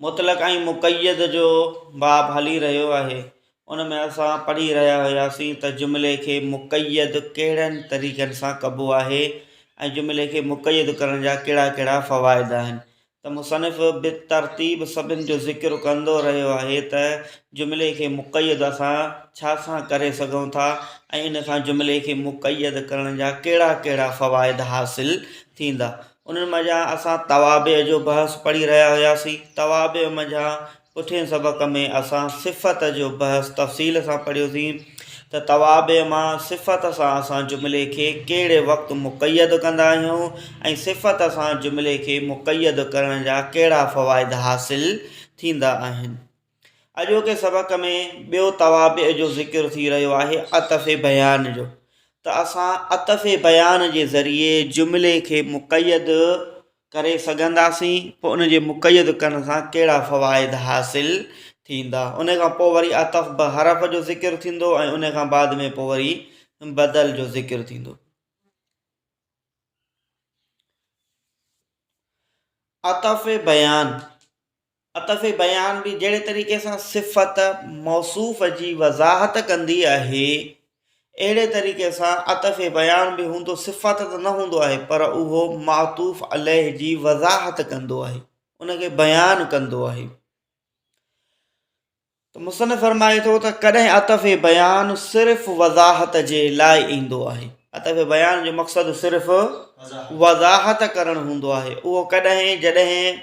مطلق ۽ مقيد جو باب هلي رهيو آهي ان ۾ اسان پڙهي رهيا هياسين ته جملي کي مقيد ڪهڙن طريقن سان ڪبو آهي ۽ جملي کي مقيد ڪرڻ جا ڪهڙا ڪهڙا فوائد آهن ته مصنف بترتيب سڀن جو ذڪر ڪندو رهيو آهي ته جملي کي مقيد اسان ڇا سان ڪري سگهون ٿا ۽ ان سان جملي کي مقيد ڪرڻ جا ڪهڙا ڪهڙا فوائد حاصل ٿيندا انهن منجهان اسان توابع جو بحث پڙهي رهيا هياسين. توابع منجهان پٺئين سبق ۾ اسان صفت جو بحث تفصيل سان پڙهيوسين ته توابع مان صفت سان اسان جملي کي ڪهڙي وقت مقيد ڪندا آهيون ۽ صفت سان جملي کي مقيد ڪرڻ جا ڪهڙا فوائد حاصل ٿيندا آهن. اڄوڪي سبق ۾ ٻيو توابع جو ذڪر ٿي رهيو آهي عطف بيان جو ته اسان عطف بيان جي ذريعي جملي کي مقيد ڪري سگهنداسين پوء ان جي مقيد ڪرڻ سان ڪهڙا فوائد حاصل ٿيندا ان کان پوء وري عطف به حرف جو ذڪر ٿيندو ۽ ان کان بعد ۾ پوء وري بدل جو ذڪر ٿيندو عطف بيان عطف بيان به جهڙي طريقي سان صفت موصوف جي وضاحت ڪندي آهي، اهڙي طريقي سان عطف بيان به هوندو صفت ته نه هوندو آهي پر اهو معطوف عليه جي وضاحت ڪندو آهي، ان کي بيان ڪندو آهي. ته مصنف فرمائي ٿو ته ڪڏهن عطف بيان صرف وضاحت جي لاء ايندو آهي عطف بيان جو مقصد صرف وضاحت ڪرڻ هوندو آهي اهو ڪڏهن جڏهن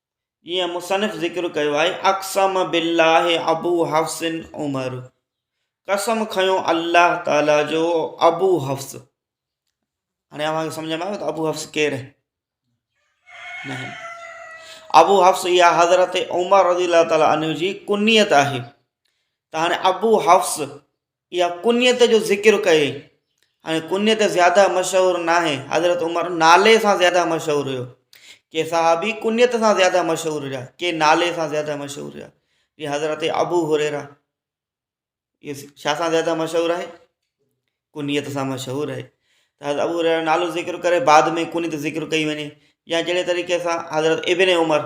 جيئن مصنف ذڪر ڪيو آهي، اقسم بالله ابو حفص عمر قسم کنيو الله تعالي جو ابو حفص هاڻي اوهان کي سمجھ ۾ آيو ته ابو حفص ڪير آهي نه ابو حفص يا حضرت عمر رضي الله تعالي عنه جي ڪنيت آهي ته هاڻي ابو حفص يا ڪنيت جو ذڪر ڪئي ۽ ڪنيت زياده مشهور ناهي حضرت عمر نالي سان زياده مشهور هيو ڪي صحابي ڪنيت سان زياده مشهور هيا ڪي نالي سان زياده مشهور هيا جي حضرت ابو هريرا يس شاھ سان زياده مشهور آهي ڪنيت سان مشهور آهي ته حضرت ابو هريرا نالو ذڪر ڪري بعد ۾ ڪنيت ذڪر ڪئي وڃي يا جهڙي طريقي سان حضرت ابن عمر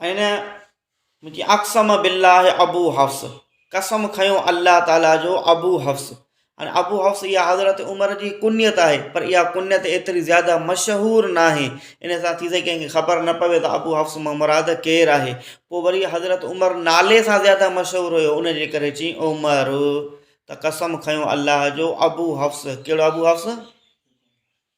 ۽ منهنجي اقسم بالله ابو حفص قسم کنيو الله تعاليٰ جو ابو حفص ۽ ابو حفص اها حضرت عمر جي ڪنيت آهي پر اها ڪنيت ايتري زياده مشهور نه آهي ان سان ٿي سگهي ڪنهن کي خبر نه پوي ته ابو حفص مان مراد ڪير آهي پوء وري حضرت عمر نالي سان زياده مشهور هيو ان جي ڪري چيئي عمر ته قسم کنيو الله جو ابو حفص ڪهڙو ابو حفص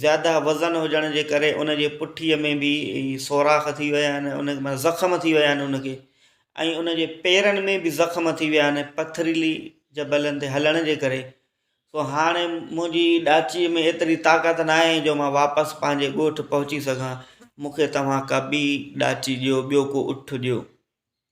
زياده وزن هجڻ جي ڪري ان جي پٺي ۾ به سوراخ ٿي ويا آهن ان مان زخم ٿي ويا آهن ان کي ۽ ان جي پيرن ۾ به زخم ٿي ويا آهن پٿريلي جبلن تي هلڻ جي ڪري سو هاڻي منهنجي ڏاچي ۾ ايتري طاقت نه آهي جو مان واپس پنهنجي ڳوٺ پهچي سگهان مون کي توهان ڪا ٻي ڏاچي ڏيو ٻيو ڪو اٺ ڏيو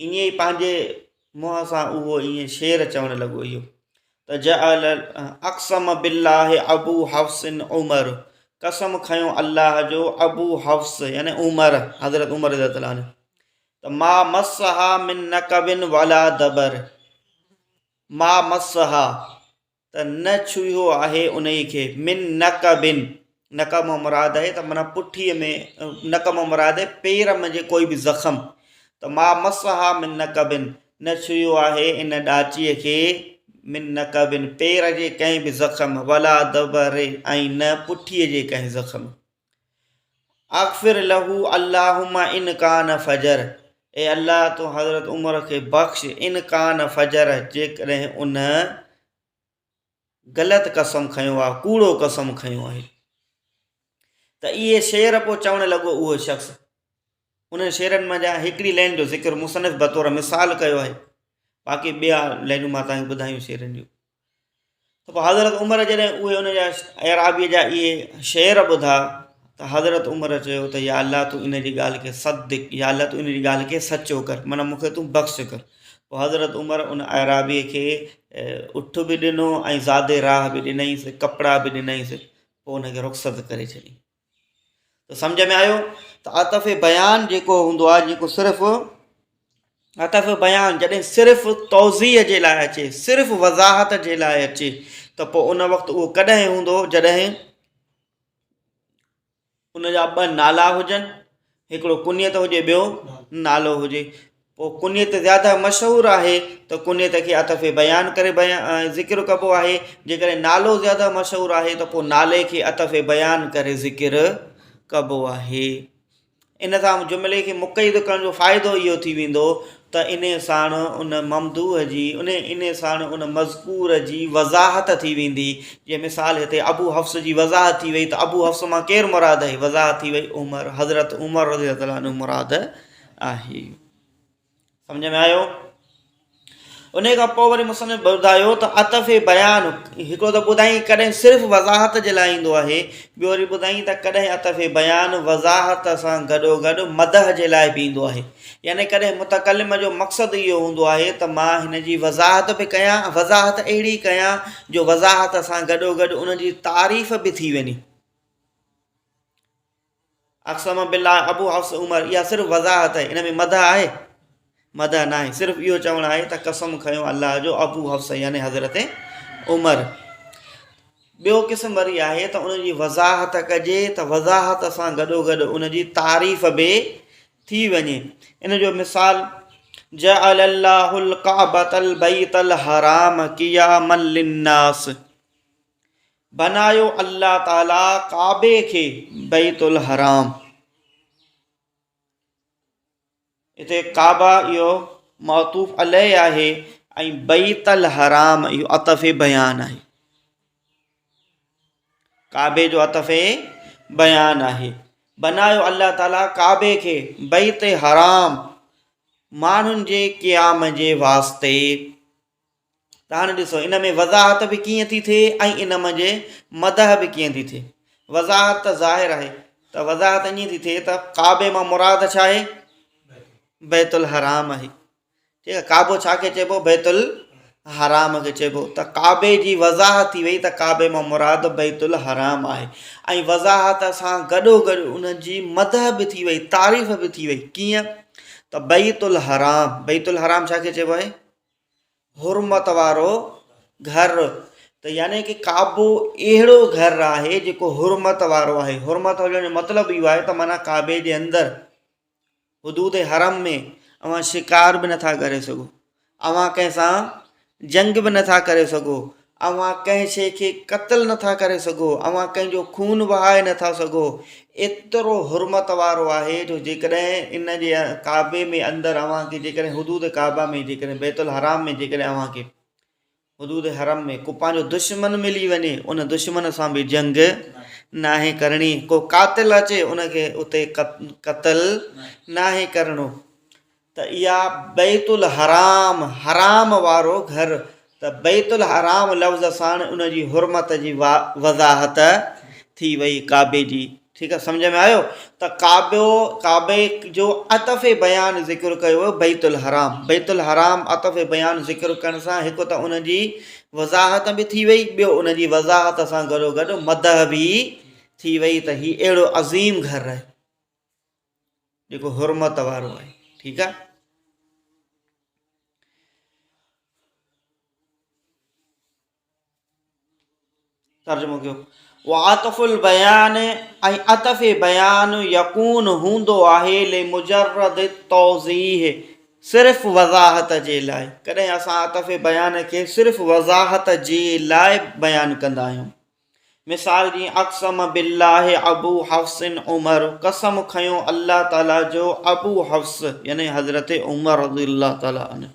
ائين ئي پنهنجي منهن سان اهو ائين شعر چوڻ لڳو اهو ته جعل اقسم بالله ابو حفص عمر قسم کنيو الله جو ابو حفص يعني عمر حضرت عمر رضي الله عنه ته ما مسها من نقبن ولا دبر ما مسها ته نه ڇهيو آهي انهيء کي من نقب نقب مان مراد آهي ته معنيٰ پٺيء ۾ نقب مان مراد آهي پير ۾ جي ڪوئي به زخم ته ما مسها من نقب نه ڇهيو آهي ان ڏاچيء کي من نقب پير جي ڪنهن به زخم ولا دبر ۽ نه پٺيء جي ڪنهن زخم. اغفر له اللهم ان ڪان فجر اي الله تون حضرت عمر کي بخش ان ڪان فجر جيڪڏهن ان غلط قسم کنيو آ ڪوڙو قسم کنيو آهي ته اهي شعر پوء چوڻ لڳو اهو شخص انهن شعرن مان جا هڪڙي لائن جو ذڪر مصنف بطور مثال ڪيو آهي باقي ٻيا لائنون مان تانڪ ٻڌايون شعرن جون ته پوء حضرت عمر جڏهن اهي ان جا اعرابيء جا اهي شعر ٻڌا ته حضرت عمر چيو ته يا الله تون ان جي ڳالهه کي صدق يا الله تون ان جي ڳالهه کي سچو ڪر معنيٰ مون کي تون بخش ڪر پوء حضرت عمر ان اعرابيء کي اٺ به ڏنو ۽ زادي راهه به ڏنائينس ڪپڙا به ڏنائينس پوء ان کي رخصت ڪري ڇڏي ته سمجهه ۾ آيو ته عطف بيان جيڪو هوندو آهي جيڪو صرف عطف بيان جڏهن صرف توضيح جي لاء اچي صرف وضاحت جي لاء اچي ته پوء ان وقت اهو ڪڏهن هوندو جڏهن ان جا ٻه نالا هجن هڪڙو ڪنيت هجي ٻيو نالو هجي پوء ڪنيت زياده مشهور آهي ته ڪنيت کي عطف بيان ڪري ذڪر ڪبو آهي جيڪڏهن نالو زياده مشهور آهي ته پوء نالي کي عطف بيان ڪري ذڪر ڪبو آهي ان سان جملي کي مقيد ڪرڻ جو فائدو اهو ٿي ويندو ته انهي ساڻ ان ممدوح جي انهي انهي ساڻ ان مذڪور جي وضاحت ٿي ويندي جيئن مثال هتي ابو حفص جي وضاحت ٿي وئي ته ابو حفص مان ڪير مراد آهي وضاحت ٿي وئي عمر حضرت عمر رضي الله تعالٰي عنه مراد آهي سمجهه ۾ آيو انهي کان پوء وري مصنف ٻڌايو ته عطف بيان هڪڙو ته ٻڌائين ڪڏهن صرف وضاحت جي لاء ايندو آهي ٻيو وري ٻڌائين ته ڪڏهن عطف بيان وضاحت سان گڏو گڏ مدح جي لاء به ايندو آهي يعني ڪڏهن متڪلم جو مقصد اهو هوندو آهي ته مان هن جي وضاحت به ڪيان ۽ وضاحت اهڙي ڪيان جو وضاحت سان گڏوگڏ ان جي تعريف به ٿي وڃي. اقسم بالله ابو حفص عمر اها صرف وضاحت آهي ان ۾ مدح آهي؟ مدح ناهي صرف اهو چوڻ آهي ته قسم کنيو الله جو ابو حفص يعني حضرت عمر ٻيو قسم وري آهي ته ان جي وضاحت ڪجي ته وضاحت سان گڏوگڏ ان جي تعريف به ٿي وڃي ان جو مثال جعل الله الڪعبة البيت الحرام قياما للناس بنايو الله تعالي ڪعبي کي بيت الحرام هتي ڪعبه اهو معطوف عليه آهي ۽ بيت الحرام اهو عطف بيان آهي ڪعبي جو عطف بيان آهي بنايو الله تعالي ڪعبي کي بيت حرام ماڻهن جي قيام جي واسطي ته هاڻي ڏسو ان ۾ وضاحت به ڪيئن ٿي ٿئي ۽ ان منجهه مدح به ڪيئن ٿي ٿئي وضاحت ته ظاهر آهي ته وضاحت ائين ٿي ٿئي ته ڪعبي مان مراد ڇا آهي بيت الحرام آهي ٺيڪ آ ڪعبو ڇا کي چئبو بيت الحرام کي چئبو ته ڪعبي جي وضاحت ٿي وئي ته ڪعبي مان مراد بيت الحرام آهي ۽ وضاحت سان گڏو گڏ ان جي مدح به ٿي وئي تعريف به ٿي وئي ڪيئن ته بيت الحرام بيت الحرام ڇا کي چئبو آهي حرمت وارو گھر ته يعني ڪي ڪعبو اهڙو گھر آهي جيڪو حرمت وارو آهي حرمت هجڻ جو مطلب اهو آهي ته معنيٰ ڪعبي جي اندر حدود حرم ۾ اوهان شڪار به نٿا ڪري سگهو اوهان ڪنهن سان جنگ به نٿا ڪري سگهو اوهان ڪنهن شيء کي قتل نٿا ڪري سگهو اوهان ڪنهن جو خون وهائي نٿا سگهو ايترو حرمت وارو آهي جو جيڪڏهن ان جي ڪعبي ۾ اندر اوهان کي جيڪڏهن حدود ڪعبه ۾ جيڪڏهن بيت الحرام ۾ جيڪڏهن اوهان کي حدود حرم ۾ ڪو پنهنجو دشمن ملي وڃي ان دشمن سان به جنگ ناهي ڪرڻي ڪو قاتل اچي ان کي اتي قتل ناهي ڪرڻو ته اها بيت الحرام حرام وارو گهر ته بيت الحرام لفظ ساڻ ان جي حرمت جي وضاحت ٿي وئي ڪعبي جي ٺيڪ آ سمجهه ۾ آيو ته ڪعبو ڪعبي جو عطف بيان ذڪر ڪيو ويو بيت الحرام بيت الحرام عطف بيان ذڪر ڪرڻ سان هڪ ته ان جي وضاحت به ٿي وئي ٻيو ان جي وضاحت سان گڏو گڏ مدح به ٿي وئي ته هي اهڙو عظيم گهر آهي جيڪو حرمت وارو آهي ٺيڪ آ ترجمو ڪيو وعطف البيان ۽ عطف بيان يقون هوندو آهي لمجرد توضيح صرف وضاحت جي لاء ڪڏهن اسان عطف بيان کي صرف وضاحت جي لاء بيان ڪندا آهيون مثال جي اقسم بالله ابو حفص عمر قسم کنيو الله تعاليٰ جو ابو حفص يعني حضرت عمر رضي الله تعاليٰ عنه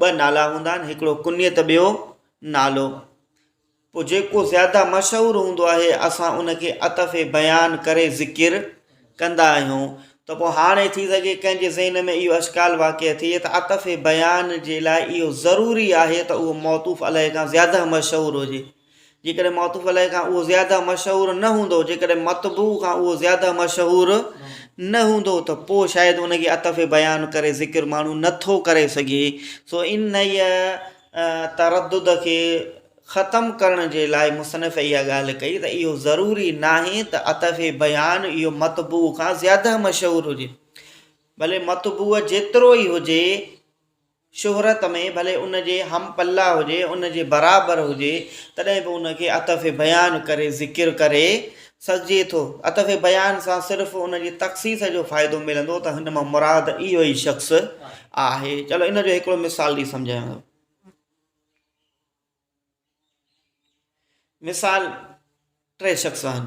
ٻه نالا هوندا آهن هڪڙو ڪنيت ٻيو نالو پوء جيڪو زياده مشهور هوندو آهي اسان ان کي عطف بيان ڪري ذڪر ڪندا آهيون ته پوء هاڻي ٿي سگهي ڪنهن جي ذهن ۾ اهو اشڪال واقع ٿئي ته عطف بيان جي لاء اهو ضروري آهي ته اهو معطوف عليه کان زياده مشهور هجي جيڪڏهن معطوف عليه کان اهو زياده مشهور نه هوندو جيڪڏهن مطبوع کان اهو زياده مشهور نه هوندو ته پوء شايد ان کي عطف بيان ڪري ذڪر ماڻهو نه ٿو ڪري سگهي سو انهيء تردد کي ختم ڪرڻ جي لاء مصنف اها ڳالهه ڪئي ته اهو ضروري ناهي ته عطف بيان اهو مطبوع کان زياده مشهور هجي بلڪ مطبوع جيترو ئي هجي شهرت ۾ ڀلي ان جي هم پلا هجي، ان جي برابر هجي، تڏهن به ان کي عطف بيان ڪري ذڪر ڪري سگهجي ٿو. عطف بيان سان صرف ان جي تخصيص جو فائدو ملندو ته هن مان مراد اهو ئي شخص آهي. چلو ان جو هڪڙو مثال ڏئي سمجهايان ٿو. مثال، ٽي شخص آهن.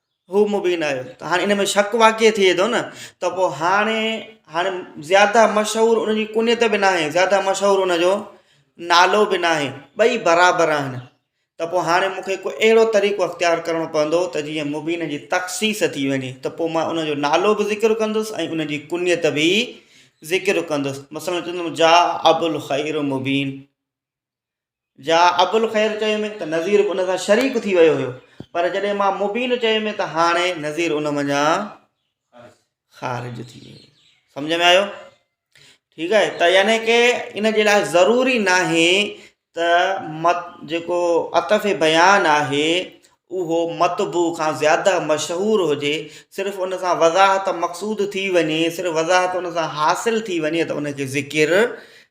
هو مبين آهي ته هاڻي ان ۾ شڪ واقعي ٿئي ٿو نه ته پوء هاڻي هاڻي زياده مشهور ان جي ڪنيت به ناهي زياده مشهور ان جو نالو به ناهي ٻئي برابر آهن ته پوء هاڻي مونکي ڪو اهڙو طريقو اختيار ڪرڻو پوندو ته جيئن مبين جي تخصيص ٿي وڃي ته پوء مان ان جو نالو به ذڪر ڪندس ۽ ان جي ڪنيت به ذڪر ڪندس مثلاً چوندم جاء ابوالخير مبين جا ابوالخير چيو مين ته نذير به ان سان شريڪ ٿي ويو هيو پر جڏهن مان مبين چيو مين ته هاڻي نذير ان منجهان خارج ٿي ويو سمجھ ۾ آيو ٺيڪ آهي ته يعني ڪي ان جي لاء ضروري ناهي ته مت جيڪو عطف بيان آهي اهو مطبوع کان زياده مشهور هجي صرف ان سان وضاحت مقصود ٿي وڃي صرف وضاحت ان سان حاصل ٿي وڃي ته ان کي ذڪر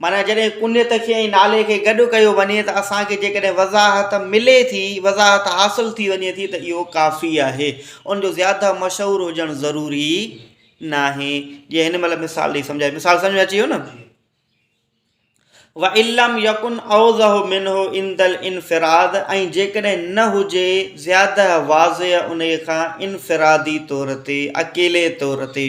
معنيٰ جڏهن ڪنيت کي ۽ نالي کي گڏ ڪيو وڃي ته اسان کي جيڪڏهن وضاحت ملي ٿي، وضاحت حاصل ٿي وڃي ٿي ته اهو ڪافي آهي، ان جو زياده مشهور هجڻ ضروري ناهي، جيئن هن مهل مثال ڏئي سمجهايو، مثال سمجهه ۾ اچي ويو نه؟ وان لم يڪن اوضح منه عند الانفراد ۽ جيڪڏهن نه هجي زياده واضح انهيء کان انفرادي طور تي، اڪيلي طور تي.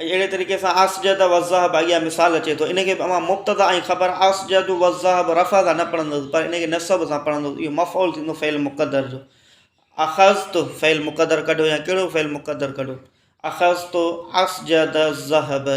اهڙي طريقي سان اسجد والذهب اڳيان مثال اچي ٿو ان کي به اوهان مبتدا ۽ خبر اسجد والذهب رفع سان نه پڙهندس پر ان کي نصب سان پڙهندس اهو مفعول ٿيندو فعل مقدر جو اخذت فعل مقدر ڪڍو يا ڪهڙو فعل مقدر ڪڍو اخذت اسجد الذهب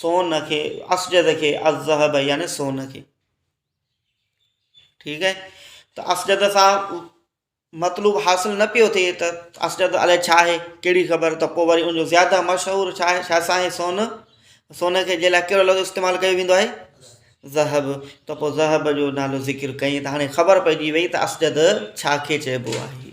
سون کي اسجد کي الذهب يعني سون کي ٺيڪ آهي ته اسجد سان مطلوب حاصل نه پيو ٿئي ته اسجد الائي ڇا آهي کهڙي خبر ته پوء وري انجو زياده مشهور ڇا آهي ڇا سان آهي سون سون کي جي لاء ڪهڙو لفظ استعمال ڪيو ويندو آهي ذهب ته پوء ذهب جو نالو ذڪر ڪيئي ته هاڻي خبر پئجي وئي ته اسجد ڇا کي چئبو آهي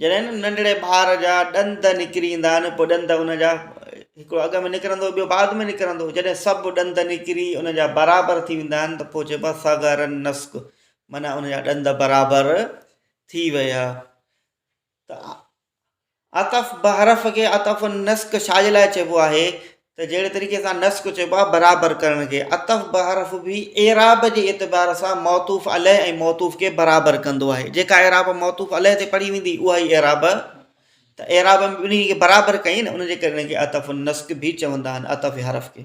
جڏهن ننڍڙي ٻار جا ڏند نڪري ايندا آهن پوء ڏند ان جا هڪڙو اڳ ۾ نڪرندو ٻيو بعد ۾ نڪرندو جڏهن سڀ ڏند نڪري ان جا برابر ٿي ويندا آهن ته پوء چئبو آهي صغر النسك معنيٰ ان جا ڏند برابر ٿي ويا ته عطف بحرف کي عطف النسك ڇاجي لاء چئبو آهي ته جهڙي طريقي سان نسق چئبو آهي برابر ڪرڻ کي عطف بحرف به اعراب جي اعتبار سان معطوف عليه ۽ معطوف کي برابر ڪندو آهي جيڪا اعراب معطوف عليه تي پڙهي ويندي اها ئي اعراب ته اعراب ۾ ٻنهي کي برابر ڪئي نه ان جي ڪري ان کي عطف النسق به چوندا آهن عطف حرف کي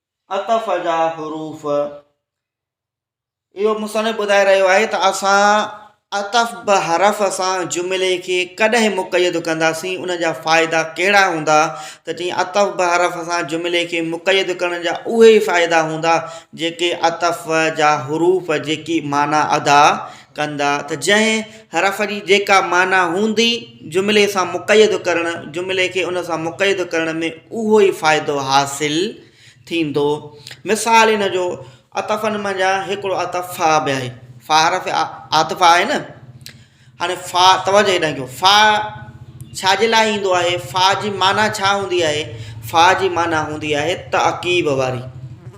عطف جا حروف، اهو مصنف ٻڌائي رهيو آهي ته اسان عطف به حرف سان جملي کي ڪڏهن مقيد ڪنداسين ان جا فائدا ڪهڙا هوندا ته چئين عطف به حرف سان جملي کي مقيد ڪرڻ جا اهي فائدا هوندا جيڪي عطف جا حروف جيڪي معنيٰ ادا ڪندا ته جنهن حرف جي جيڪا معنيٰ هوندي جملي سان مقيد ڪرڻ جملي کي ان سان مقيد ڪرڻ ۾ اهو ئي فائدو حاصل ٿيندو مثال ان جو عطفن منجهان هڪڙو عطف فا به آهي فا حرف عاطفه آهي نه هاڻي فا توجه هيڏانهن ڪيو فا ڇا جي لاء ايندو آهي فا جي معنيٰ ڇا هوندي آهي فا جي معنيٰ هوندي آهي تعقيب واري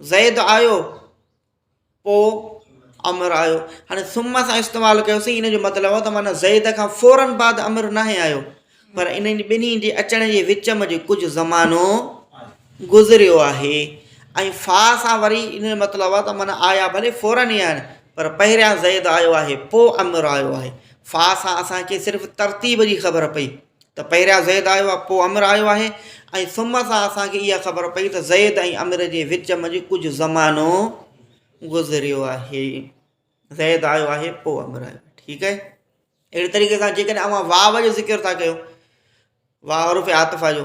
زيد آيو پوء عمر آيو هاڻي ثم سان استعمال ڪيوسين ان جو مطلب هو ته معنی زيد کان فورن بعد عمر ناهي آيو پر انهن ٻنهي جي اچڻ جي وچ ۾ جي ڪجهه زمانو گذريو آهي ۽ فا سان وري ان جو مطلب هو ته معنی آيا ڀلي فورن ئي آهن پر پهريان زيد آيو آهي پوء عمر آيو آهي فا سان اسانکي صرف ترتيب جي خبر پئي ته پهريان زيد آيو آهي پوء عمر آيو آهي ۽ ثم سان اسان کي اها خبر پئي ته زيد ۽ عمر جي وچ منجهه ڪجهه زمانو گذريو آهي زيد آيو آهي پوء عمر آيو ٺيڪ آهي اهڙي طريقي سان جيڪڏهن اوهان واء جو ذڪر ٿا ڪيو واء عرف عاطفه جو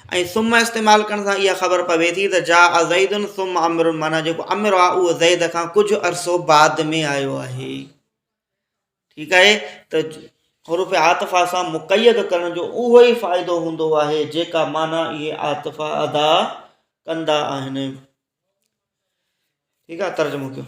۽ ثم استعمال ڪرڻ سان اها خبر پوي ٿي ته جاء زيد ثم عمر معنيٰ جيڪو عمر آهي اهو زيد کان ڪجهه عرصو بعد ۾ آيو آهي ٺيڪ آهي ته حروف عاطفه سان مقيد ڪرڻ جو اهو ئي فائدو هوندو آهي جيڪا معنيٰ اهي عاطفه ادا ڪندا آهن ٺيڪ آهي ترجمو ڪيو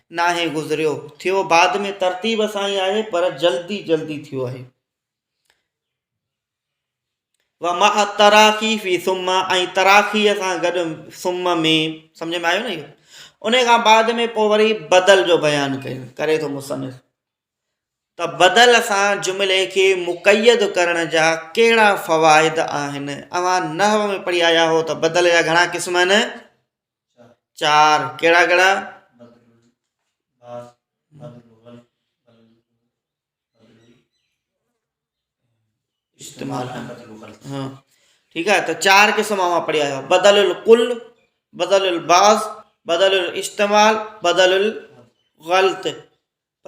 ناهي گذريو ٿيو بعد ۾ ترتيب سان ئي آهي پر جلدي جلدي ٿيو آهي و مع تراخي في ثم ۽ تراخي سان گڏ ثم ۾ سمجھ ۾ آيو نه اهو ان کان بعد ۾ پوء وري بدل جو بيان ڪيو ڪري ٿو مصنف ته بدل سان جملي کي مقيد ڪرڻ جا ڪهڙا فوائد آهن اوهان نحو ۾ پڙهي آيا هو ته بدل جا گهڻا قسم آهن چار، ڪهڙا ڪهڙا؟ استعمال ها ٺيڪ آهي ته چار قسم اوهان پڙهي آيا آهيو بدل الڪل بدل الباز بدل الاستعمال بدل الغلط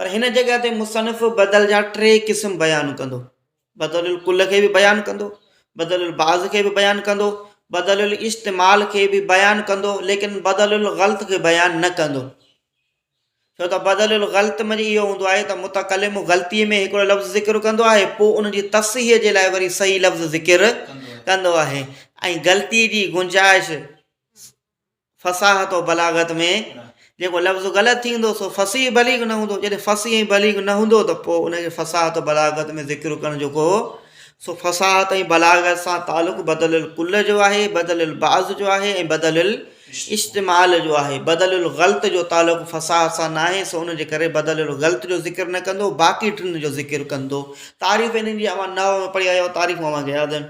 پر هن جڳهه تي مصنف بدل جا ٽي قسم بيان ڪندو، بدل الڪل کي به بيان ڪندو، بدل البعض کي به بيان ڪندو، بدل الاستعمال کي به بيان ڪندو ليڪن بدل الغلط کي بيان نه ڪندو. ڇو ته بدل الغلط ۾ اهو هوندو آهي ته متڪلم غلطي ۾ هڪڙو لفظ ذڪر ڪندو آهي پوء ان جي تصحيح جي لاء وري صحيح لفظ ذڪر ڪندو آهي ۽ غلطي جي گنجائش فصاحت و بلاغت ۾ جيڪو لفظ غلط ٿيندو سو فصيح بليغ نه هوندو جڏهن فصيح ۽ بليغ نه هوندو ته پوء ان کي فصاحت و بلاغت ۾ ذڪر ڪرڻ جيڪو هو سو فصاحت ۽ بلاغت سان تعلق بدل الڪل جو آهي بدل البعض جو آهي ۽ بدل الاستعمال جو آهي بدل الغلط جو تعلق فصاحت سان ناهي سو ان جي ڪري بدل الغلط جو ذڪر نه ڪندو باقي ٽن جو ذڪر ڪندو تعريف انهن جي اوهان نحو ۾ پڙهي آيا آهيو تعريفون اوهان کي ياد آهن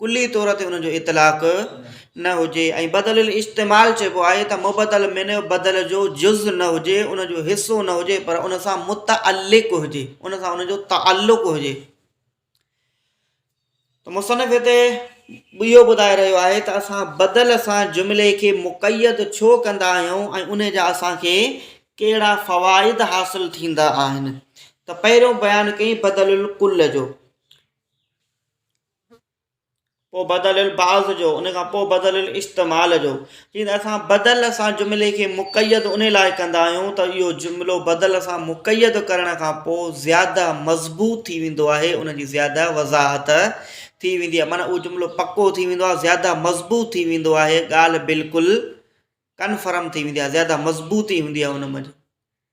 ڪلي طور تي ان جو اطلاق نه هجي ۽ بدل الاستعمال چئبو آهي ته مبدل منه بدل جو جز نه هجي، ان جو حصو نه هجي پر ان سان متعلق هجي، ان سان ان جو تعلق هجي. ته مصنف هتي اهو ٻڌائي رهيو آهي ته اسان بدل سان جملي کي مقيد ڇو ڪندا آهيون ۽ ان جا اسان کي ڪهڙا فوائد حاصل ٿيندا آهن ته پهريون بيان ڪيئي بدل الڪل جو پوء بدل البعض جو، ان کان پوء بدل الاستعمال جو. جيئن اسان بدل سان جملي کي مقيد ان لاء ڪندا آهيون ته اهو جملو بدل سان مقيد ڪرڻ کان پوء زياده مضبوط ٿي ويندو آهي، ان جي زياده وضاحت ٿي ويندي آهي. معنيٰ اهو جملو پڪو ٿي ويندو آهي، زياده مضبوط ٿي ويندو آهي، ڳالهه بلڪل ڪنفرم ٿي ويندي آهي، زياده مضبوطي هوندي آهي ان ۾.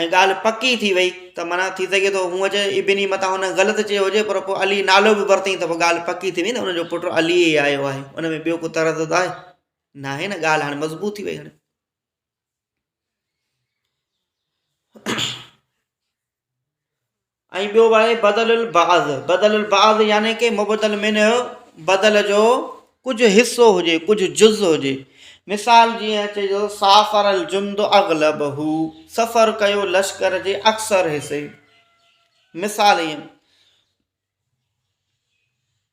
۽ ڳالهه پڪي ٿي وئي ته معنيٰ ٿي سگهي ٿو هونء چي ابني متان هن غلط چيو هجي پر پوء علي نالو به ورتئين ته پوء ڳالهه پڪي ٿي وئي نه ان جو پٽ علي ئي آيو آهي ان ۾ ٻيو ڪو تردد آهي ناهي نه ڳالهه هاڻي مضبوط ٿي وئي هاڻي ۽ ٻيو آهي بدل البعض، بدل البعض يعني ڪي مبدل منه بدل جو ڪجهه حصو هجي ڪجهه جز هجي مثال جيئن چئجي ٿو سافر الجند اغلبه سفر ڪيو لشڪر جي اڪثر حصي مثال ائين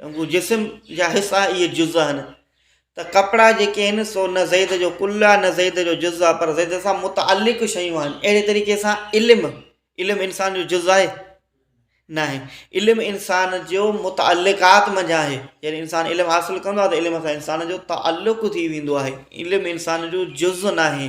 چونڪه جسم جا حصا ئي جز آهن ته ڪپڙا جيڪي آهن سو نه زيد جو ڪل آهي نه زيد جو جز آهي پر زيد سان متعلق شيون آهن اهڙي طريقي سان علم علم انسان جو جز آهي ناهي علم انسان جو متعلقات منجھان آهي جڏهن انسان علم حاصل ڪندو آهي ته علم سان انسان جو تعلق ٿي ويندو آهي علم انسان جو جز ناهي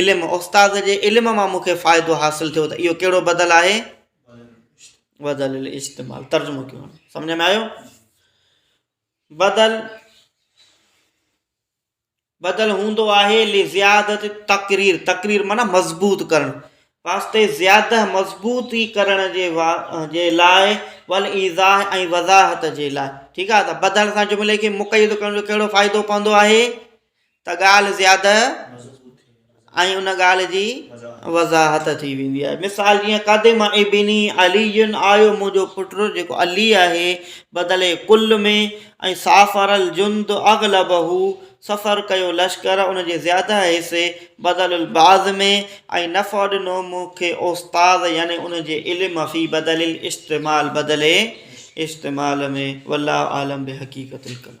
علم، استاد جي علم مان مون کي فائدو حاصل ٿيو ته اهو ڪهڙو بدل آهي؟ بدل الاستعمال ترجمو ڪيو هاڻي سمجھ ۾ آيو بدل بدل هوندو آهي لزيادت تقرير تقرير معنی مضبوط ڪرڻ واسطي زياده مضبوطي ڪرڻ جي وا جي لاء ول ايزا ۽ وضاحت جي لاء ٺيڪ آهي ته بدل سان جملي کي مقيد ڪرڻ جو ڪهڙو فائدو پوندو آهي ته ڳالهه زياده ۽ ان ڳالهه جي وضاحت ٿي ويندي آهي مثال جيئن قدم ابني علي آيو منهنجو پٽ جيڪو علي آهي بدلي ڪل ۾ ۽ سافر الجند اغلب هو سفر ڪيو لشڪر ان جي زياده حصي بدل البعض ۾ ۽ نفع ڏنو مون کي استاد يعني ان جي علم في بدل الاستعمال بدلي استعمال ۾ والله اعلم بحقيقت الڪلام